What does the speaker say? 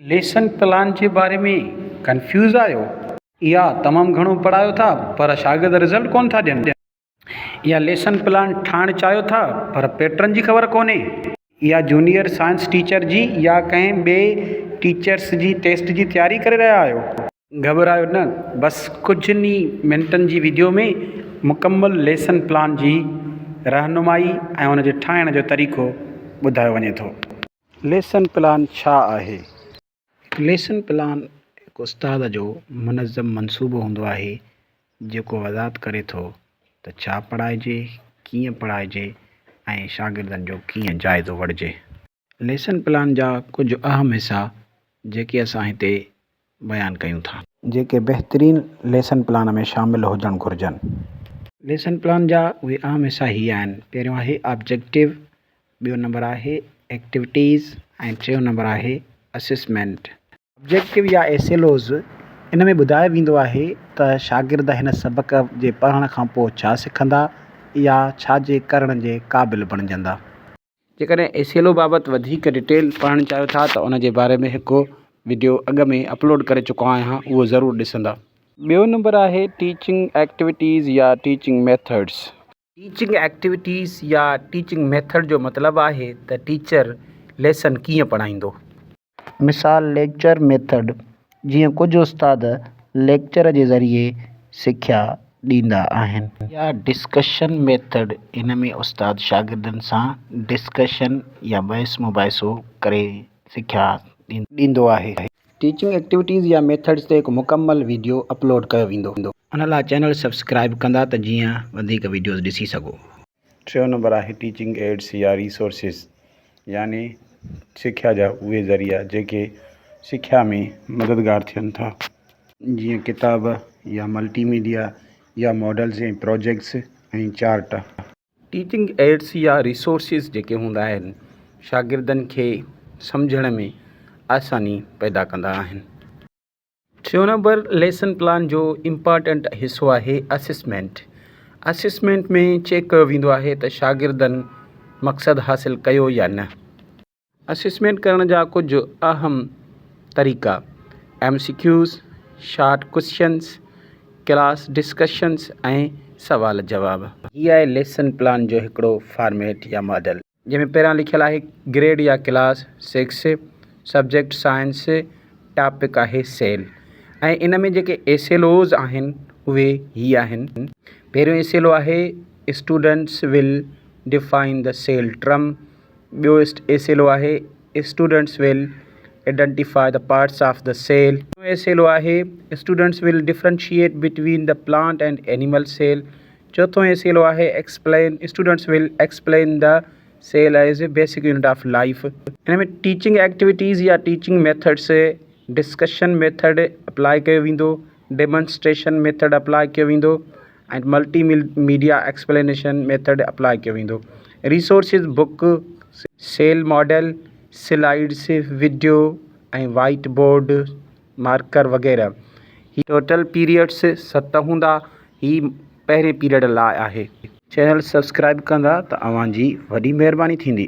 Lesson plan جي باري ۾ confuse آهيو؟ يا تمام گهڻو پڙهايو ٿا پر شاگرد رزلٽ ڪونه ٿا ڏين؟ يا ليسن پلان ٺاهڻ چاهيو ٿا پر پيٽرن جي خبر ڪونهي؟ يا جونيئر سائنس ٽيچر جي يا ڪنهن ٻئي ٽيچرس جي ٽيسٽ جي تياري ڪري رهيا آهيو؟ گهٻرايو نه بس ڪجهن ئي منٽن جي ويڊيو ۾ مڪمل ليسن پلان جي رهنمائي ۽ ان جي ٺاهڻ جو طريقو ٻڌايو وڃي ٿو. ليسن پلان ڇا آهي؟ هڪ ليسن پلان هڪ استاد جو منظم منصوبو هوندو آهي جيڪو وضاحت ڪري ٿو ته ڇا پڙهائجي، ڪيئن پڙهائجي ۽ شاگردن جو ڪيئن جائزو وٺجي. ليسن پلان جا ڪجهه اهم حصا جيڪي اسان هتي بيان ڪيون ٿا. جيڪي بهترين ليسن پلان ۾ شامل هجڻ گهرجن. ليسن پلان جا اهي اهم حصا هي آهن، پهريون آهي آبجيڪٽو، ٻيو نمبر آهي ايڪٽويٽيز ۽ ٽيون نمبر آهي اسيسمينٽ. آبجيڪٽو يا ايس ايل اوز، ان ۾ ٻڌايو ويندو آهي ته شاگرد هن سبق جي پڙهڻ کانپوء ڇا سکندا يا ڇا جي ڪرڻ جي قابل بڻجندا. جيڪڏهن اي سي ايل او بابت وڌيڪ ڊٽيل پڙهڻ چاهيو ٿا ته ان جي باري ۾ هڪ وڊيو اڳ ۾ اپلوڊ ڪري چڪو آهيان اهو ضرور ڏسندا. ٻيو نمبر آهي ٽيچنگ ايڪٽويٽيز يا ٽيچنگ ميٿڊز. ٽيچنگ ايڪٽويٽيز يا ٽيچنگ ميٿڊ جو مطلب آهي ته ٽيچر ليسن ڪيئن پڙهائيندو. مثال، ليڪچر ميٿڊ، جيئن ڪجهه استاد ليڪچر جي ذريعي سکيا ڏيندا آهن. يا ڊسڪشن ميٿڊ، ان ۾ استاد شاگردن سان ڊسڪشن يا بحث مباحثو ڪري سکيا ڏيندو آهي. ٽيچنگ ايڪٽيوٽيز يا ميٿڊز تي هڪ مڪمل ويڊيو اپلوڊ ڪيو ويندو. ان لاء چينل سبسڪرائيب ڪندا ته جيئن وڌيڪ ويڊيوز ڏسي سگهو. ٽيون نمبر آهي ٽيچنگ ايڊس يا ريسورسز يعني سکيا جا اهي ذريعا جيڪي سکيا ۾ مددگار ٿين ٿا جيئن ڪتاب يا ملٽي ميڊيا يا models ۽ projects ۽ chart. Teaching aids يا ريسورسز جيڪي هوندا آهن شاگردن کي سمجهڻ ۾ آساني پيدا ڪندا آهن. ٽيون نمبر ليسن پلان جو امپارٽنٽ حصو آهي اسسمينٽ. اسسمينٽ ۾ چيڪ ڪيو ويندو آهي ته شاگردن مقصد حاصل ڪيو يا نه. اسسمينٽ ڪرڻ جا ڪجهه اهم طريقا M C Qs, short questions, class discussions ۽ سوال جواب. هي آهي ليسن پلان جو هڪڙو فارميٽ يا ماڊل. جنهن ۾ پهريان لکيل آهي گريڊ يا class six subject science topic آهي سيل ۽ ان ۾ جيڪي اي سيل اوز آهن اهي هي آهن پهريون اي سيل او آهي students will define the cell term ٻيو اي سيل او آهي students will identify the parts of the cell S L O آهي students will differentiate between the plant and animal cell چوٿون S L O آهي explain students will explain the cell as a basic unit of life ان ۾ teaching activities يا teaching methods discussion method apply ڪيو ويندو demonstration method apply ڪيو ويندو ۽ multi media explanation method apply ڪيو ويندو resources book cell model slides video ۽ whiteboard marker وغيره هي ٽوٽل پيريڊس ست هوندا هي پهرين پيريڊ لاء آهي. چينل سبسڪرائب ڪندا ته اوهان جي وڏي مهرباني ٿيندي.